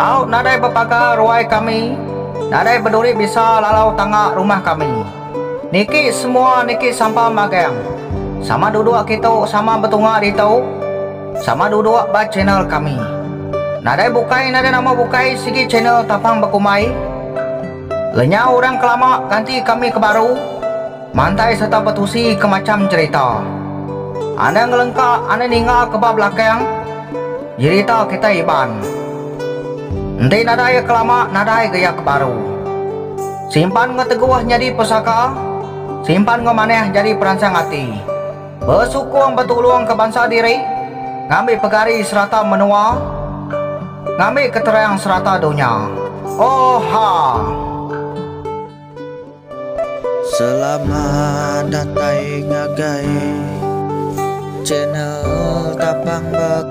Au nadai bepaga ruai kami, nadai beduri bisa lalau tangga rumah kami. Niki semua niki sampan magang. Sama duduk kitu sama betunga ditu. Sama duduk ba channel kami. Nadai bukai nadai nama bukai sigi channel tapang bekumbai. Lenyau orang ke lama ganti kami ke baru. Mantai serta betusi ke macham cherita. Anda ngelengka anda ninga ke ba belakang jerita kitai Iban. Enti nadai iya ke lama nadai ga iya ke baru. Simpan enggau teguh nyadi pesaka, simpan enggau manah nyadi peransang ati. Besukung betulung ke bansa diri, ngambi pegari serata menua, ngambi keterang serata dunya. Oha! Selamat datai ngagai channel tapang bek.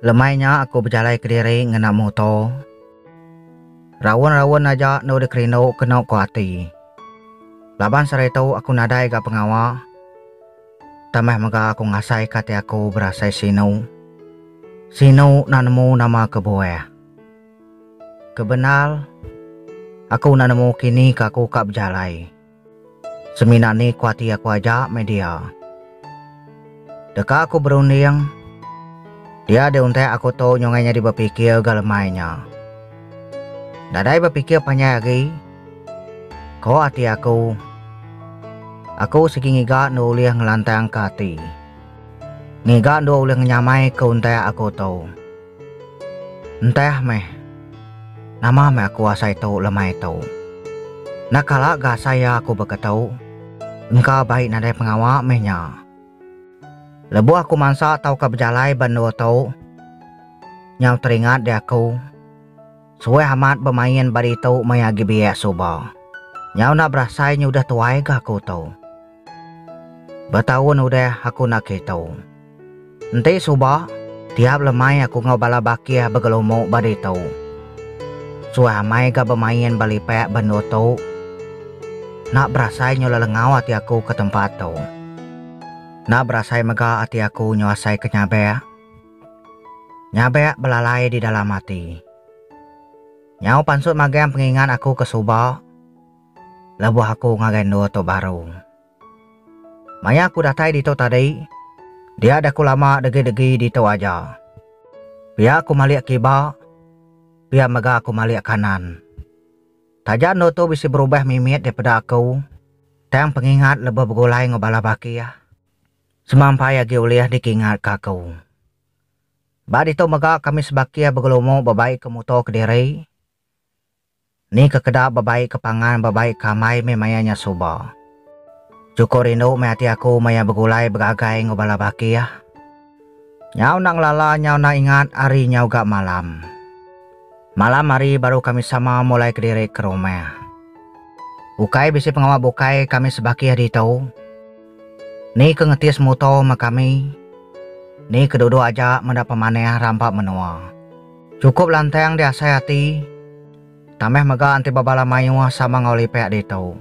Lemai nya aku bejalai kediri ngena muto. Raun-raun aja enda ulih kerindu keno ko ati. Laban seritu aku nadai ga pengawa. Tambah mega aku ngasai ka ati aku berasai sinu. Sinu enda nemu nama kebuah. Kebendar aku enda nemu kini ka aku ka bejalai. Semina ni ku ati aku aja meh dia. Deka aku berunding, dia di untak aku tu nyungai nyadi bepikir ga lemai nya. Nadai bepikir panjai agi, ko ati aku. Aku sigi ngiga endur ulih ngelantangka ati. Ngiga endur ulih ngenyamai ke untak aku tu. Ntah meh, nama meh aku asai tu lemai tu. Enda kala ga asai iya aku baka tu. Engka bai nadai pengawa meh nya. Lebuh aku mansa tauka bejalai ba endur tu, nyau teringat di aku. Suah amat bemain ba ditu meh agi biak suba. Nyau enda berasai nya udah tuai ga aku tu. Betaun udah aku enda kitu. Enti suba, tiap lemai aku enggau bala bakih begelumu ba ditu. Suah amai ga bemain ba lipak bendu tu. Enda berasai nyau lelengau ati aku ke tempat tu. Enda berasai mega ati aku nyau asai ke nyabak. Nyabek belalai di dalam ati. Nyau pansut magang pengingat aku ke suba lebuh aku ngagai endur tu baru. Maya aku datai ditu tadi, dia daku lama degi-degi ditu aja. Pia aku malik kiba, pia mega aku malik kanan. Taja endur tu bisi berubah mimit daripada aku, tang pengingat lebuh begulai enggau bala bakih. Semampai agi ulih dikingatka aku. Ba ditu mega kami sebakih begelumu bebaika muto kediri. Ni kekeda bebaika pangan bebaika amai meh maya nya suba. Chukup rindu meh ati aku maya begulai begagai enggau bala bakih. Nyau enda ngelala nyau enda ingat hari nyau ga malam. Malam hari baru kami sama mulai kediri ke rumah. Ukai bisi pengawa bukai kami sebakih ditu. Ni ke ngetis muto me kami. Ni ke duduk aja meda pemanah rampa menua. Chukup lantang diasai ati. Tambah mega enti bebala mayuh sama enggau lipek ditu.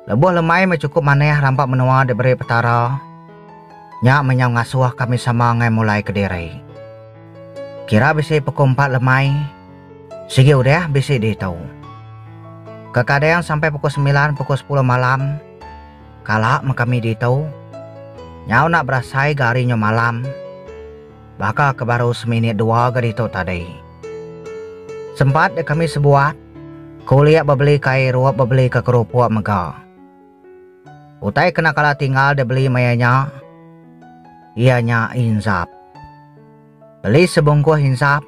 Lebuh lemai meh chukup manah rampa menua diberi Petara. Nya meh nyau ngasuh kami sama angai mulai kediri. Kira bisi pukul empat lemai, sigi udah bisi ditu. Kekadang sampai pukul semilan pukul sepuluh malam kala meh kami ditu. Nyau enda berasai ga ari nyu malam. Baka ke baru seminit dua ga ditu tadi. Sempat deh kami sebuat, kulik bebeli ka irup bebeli ka kerupuk mega. Utai kena kala tinggal deh beli maya nya, iya nya insap. Beli sebungkuh insap,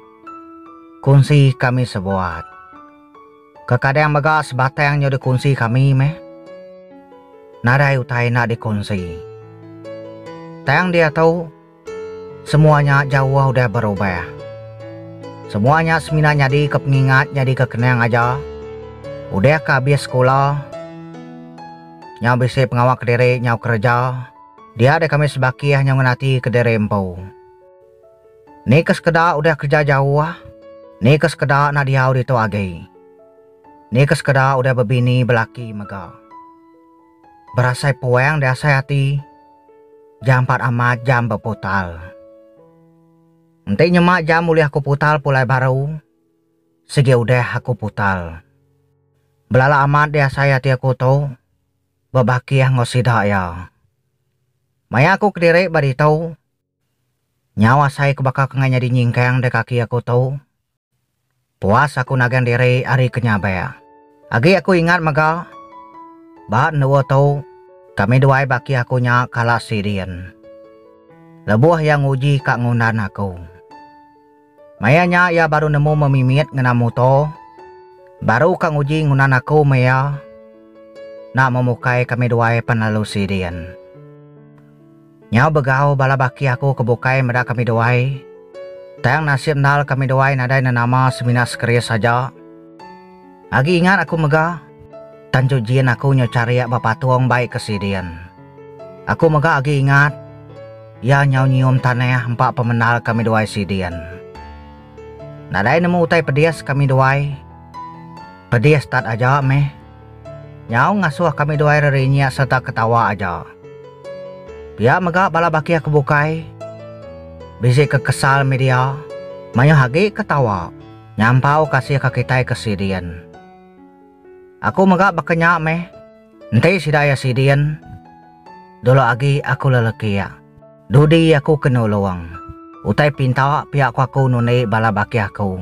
kunsi kami sebuat. Kekadang mega sebatang nyu dikunsi kami meh. Nadai utai enda dikunsi. Tang diatu. Semua nya jauh udah berubah. Semua nya semina nyadi ke pengingat nyadi ke kenang aja. Udah ke abis sekula, nyau bisi pengawa kediri nyau kereja, dia deh kami sebakih nyau ngan ati kediri empu. Ni ke sekeda udah kereja jauh, ni ke sekeda enda diau ditu agi. Ni ke sekeda udah bebini belaki mega. Berasai puang di asai ati. Jampat amat jam beputal. Enti nyema jam ulih aku putal pulai baru, sigi udah aku putal. Belala amat di asai ati aku tu, bebakih enggau sida iya. Maya aku kediri ba ditu, nyau asai ke baka kengai nyadi nyingkang di kaki aku tu, Puas aku nagang diri ari ke nyaber. Agi aku ingat mega ba endur tu kami duai baki aku nya kala sidin. Lebuh iya nguji ka ngundan aku. Maya nya iya baru nemu memimit ngena mutor baru ka nguji ngundan aku meh iya nak memukai kami duai pan lalu sidin. Nyau begau bala baki aku ke bukai meda kami duai. Tang nasib endal kami duai nadai nenama semina sekeris aja. Agi ingat aku mega, tang ju jin aku nyau charik ba patung bai ke sidin. Aku mega agi ingat, iya nyau nyium tanah empa pemendal kami duai sidin. Nadai nemu utai pedis kami duai. Pedis tat aja meh. Nyau ngasuh kami duai rerinyik sereta ketawa aja. Pia mega bala bakih ke bukai bisi ke kesal mih dia, mayuh agi ke tawa nyampau kasih ke kitai ke sidin. Aku mega baka nya mih, enti sida iya sidin, dulu agi aku lelekik, dudi aku ke nulung, utai pinta pia ku aku nundi bala bakih aku.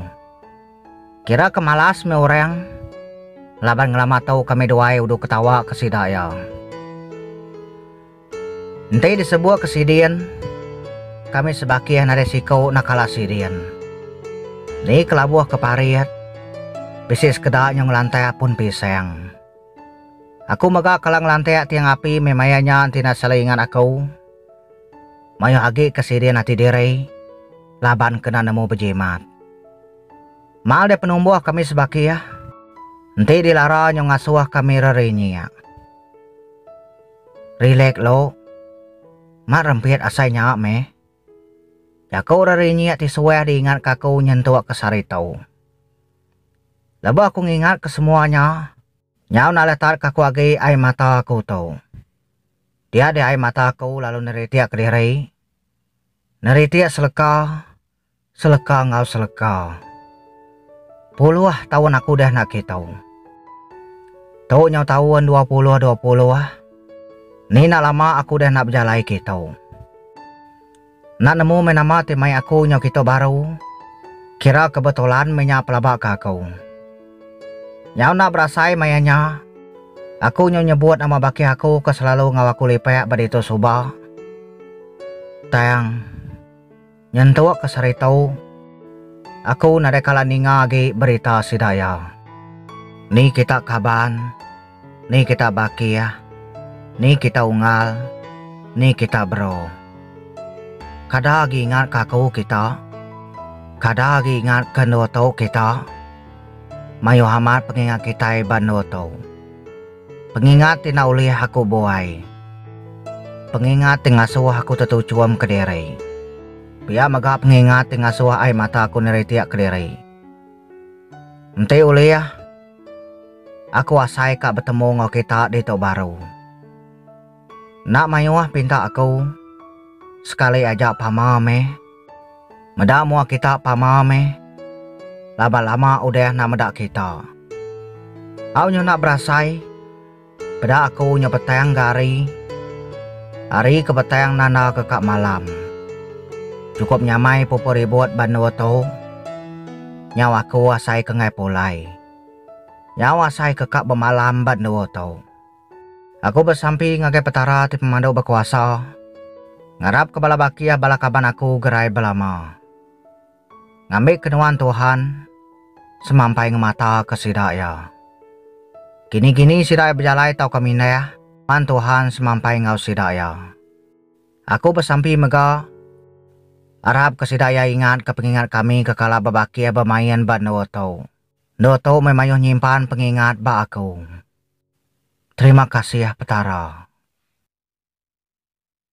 Kira ke malas meh orang. Laban ngelama tu kami duai udu ketawa ke sida iya. Enti disebut ke sidin, kami sebakih nadai siku nak kala sidin. Ni kelabuh ke parit, bisi sekeda nyau ngelantak pun pisang. Aku mega kala ngelantak tiang api meh maya nya enti naseli ingat aku. Mayuh agi ke sidin ati diri laban kena nemu bejimat. Mal deh penumbuh kami sebakih enti dilara nyau ngasuh kami rerinyiak. Rilek lu. Mat rempit asai nya meh. Jaku rerinyiak ti suah diingatka aku nyentuk ke sehari tu. Lebuh aku ngingatka semua nya, nyau naletatka aku agi ai mata aku tu. Dia dia ai mata aku lalu neritik ke diri. Neritik seleka, seleka enggau seleka. Puluh taun aku udah enda kitu. Tu nyau taun dua puluh dua puluh. Ni enda lama aku udah enda bejalai kitu. Enda nemu meh nama ti mai aku nyau kitu baru, kira kebetulan meh nya pelaba ke aku. Nyau enda berasai maya nya, aku nyau nyebut nama baki aku ke selalu enggau aku lipek ba ditu suba, tang nyentuk ke sehari tu aku nadai kala ninga agi berita sida iya. Ni kita kaban. Ni kita bakih, ni kita unggal, ni kita bero. Kada agi ingat ka aku kita, kada agi ingat ke endur tu kita. Mayuh amat pengingat kitai ba endur tu. Pengingat ti enda ulih aku buai. Pengingat ti ngasuh aku tetuchum kediri. Pia mega pengingat ti ngasuh ai mata aku niritiak kediri. Enti ulih, aku asai ka betemu enggau kita ditu baru. Enda mayuh pinta aku, sekali aja pama meh. Meda mua kita pama meh, laban lama udah enda meda kita. Au nyau enda berasai. Peda aku nya petang ga hari. Hari ke petang nanda ke ka malam. Cukup nyamai pupu ribut ba endur tu. Nyau aku asai ke enggai pulai. Nyau asai ke ka bemalam ba endur tu. Aku besampi ngagai Petara ti Pemandu Bekuasa, ngarap ke bala bakih bala kaban aku gerai belama. Ngambika nuan Tuhan semampai ngemataka sida iya. Kini-kini sida iya bejalai tauka mindah, nuan Tuhan semampai enggau sida iya. Aku besampi mega, arapka sida iya ingatka pengingat kami ke kala bebakih bemain ba endur tu. Endur tu meh mayuh nyimpan pengingat ba aku. Terima kasih Petara.